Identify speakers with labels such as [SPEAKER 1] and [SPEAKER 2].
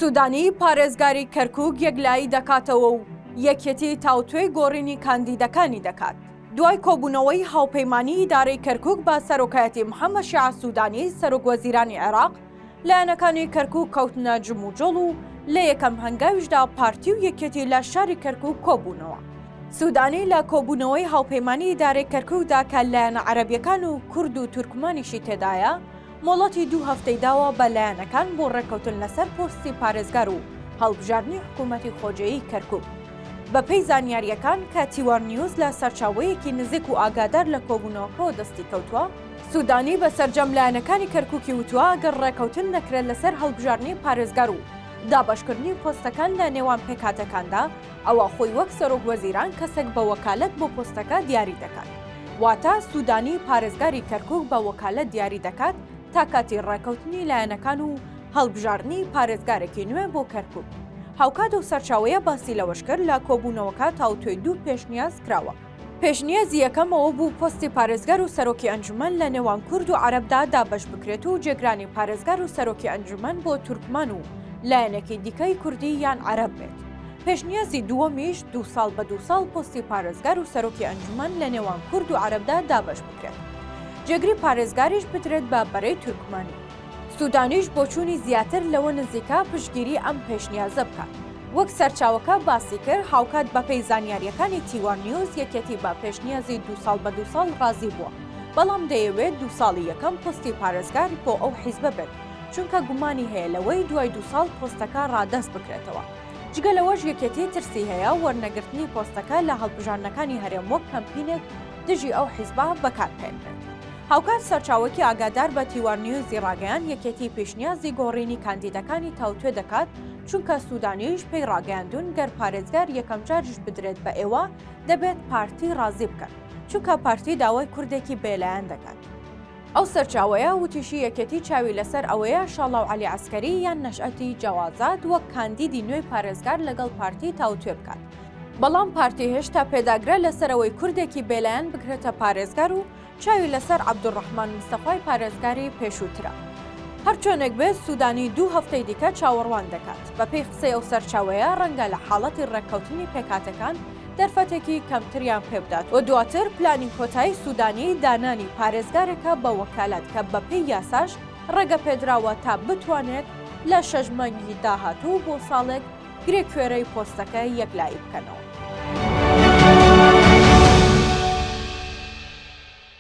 [SPEAKER 1] سوودانی پارێزگاری کەرکووک یەکلایی دەکاتەوە و یەکێتی تاوتوێی گۆڕینی کاندیدەکانی دەکات. دوای کۆبوونەوەی هاوپەیمانیی ئیدارەی کەرکووک بە سەرۆکایەتی محەممەد شیاع سوودانی، سەرۆکوەزیرانی عێراق، لایەنەکانی کەرکووک کەوتنە جموجۆڵ و لە یەکەم هەنگاویشدا پارتی و یەکێتی لە شاری کەرکووک کۆبوونەوە. سوودانی لە کۆبوونەوەی هاوپەیمانیی ئیدارەی کەرکووکدا کە لایەنە عەرەبییەکان و کورد و تورکمانیشی تێدایە، مۆڵەتی دوو هەفتەی داوە بە لایەنەکان بۆ ڕێککەوتن لەسەر پۆستی پارێزگار و هەڵبژاردنی حکوومەتی خۆجێیی کەرکووک. بەپێی زانیارییەکان کە تیوارنیوز لە سەرچاوەیەکی نزیک و ئاگادار لە کۆبوونەوەکەوە دەستی کەوتووە، سوودانی بە سەرجەم لایەنەکانی کەرکووکی وتووە گەر ڕێککەوتن نەکرێت لەسەر هەڵبژاردنی پارێزگار و دابەشکردنی پۆستەکان لە نێوان پێکهاتەکاندا، ئەوا خۆی وەک سەرۆک وەزیران کەسێک بە وەکالەت بۆ پۆستەکە دیاری دەکات. واتە سوودانی پارێزگاری کەرکووک بە وەکالەت دیاری دەکات تا کاتی ڕێکەوتنی لایەنەکان و هەڵبژاردنی پارێزگارێکی نوێ بۆ کەرکووک. هاوکات ئەو سەرچاوەیە باسی لەوەشکرد، لە کۆبوونەوەکە تاوتوێی دوو پێشنیاز کراوە. پێشنیازی یەکەم ئەوە بوو پۆستی پارێزگار و سەرۆکی ئەنجومەن لە نێوان کورد و عەرەبدا دابەش بکرێت و جێگرانی پارێزگار و سەرۆکی ئەنجومەن بۆ تورکمان و لایەنێکی دیکەی کوردی یان عەرەب بێت. پێشنیازی دووەمیش دوو ساڵ بە دوو ساڵ پۆستی پارێزگار و سەرۆکی ئەنجومەن لە نێوان کورد و عەرەبدا دابەش بکرێت. جێگری پارێزگاریش بدرێت بە بەرەی تورکمانی. سودانیش بۆچوونی زیاتر لەوە نزیکە پشتگیری ئەم پێشنیازە بکات. وەک سەرچاوەکە باسیکرد، هاوکات بەپێی زانیارییەکانی تیوا نیوز یەکێتی بە پێشنیازی دوو ساڵ بە دوو ساڵ رازی بووە، بەڵام دەیەوێت دوو ساڵی یەکەم پۆستی پارێزگار بۆ ئەو حیزبە بێت، چونکە گومانی هەیە لەوەی دوای دوو ساڵ پۆستەکە رادەست بکرێتەوە. جگە لەوەش یەکێتی ترسی هەیە وەرنەگرتنی پۆستەکە لە هەڵبژاردنەکانی هەرێم وەک کەمپینێک دژی ئەو حیزبە بەکاربهێنرێت. هاوکات سەرچاوەکی ئاگادار بە تیوار نیوزی ڕاگەیاند یەکێتی پیشنیازی گۆڕینی کاندیدەکانی تاوتوێ دەکات، چونکە سودانیش پێی ڕاگەیاندوون گەر پارێزگار یەکەم جاریش بدرێت بە ئێوە دەبێت پارتی ڕازی بکەن، چونکە پارتی داوای کوردێکی بێلایەن دەکات. ئەو سەرچاوەیە وتیشی یەکێتی چاوی لەسەر ئەوەیە شاڵاو عەلی عەسکەری یان نەشئەتی جەوازات وەک کاندیدی نوێی پارێزگار لەگەڵ پارتی تاوتوێ بکات، بەڵام پارتی هێشتا پێداگرە لەسەر ئەوەی کوردێکی بێلایەن بکرێتە پارێزگار و چاوی لەسەر عەبدولڕەحمان مستەفای پارێزگاری پێشووترە. هەرچۆنێک بێت سوودانی دوو هەفتەی دیکە چاوەڕوان دەکات. بەپێی قسەی ئەو سەرچاوەیە رەنگە لە حاڵەتی رێککەوتنی پێکهاتەکان دەرفەتێکی کەمتریان پێبدات و دواتر پلانی کۆتایی سوودانی دانانی پارێزگارێکە بە وەکالەت کە بەپێی یاساش رێگەپێدراوە تا بتوانێت لە شەش مانگی داهاتوو بۆ ساڵێک گرێ کوێرەی پۆستەکە یەک لایی بکەنەوە.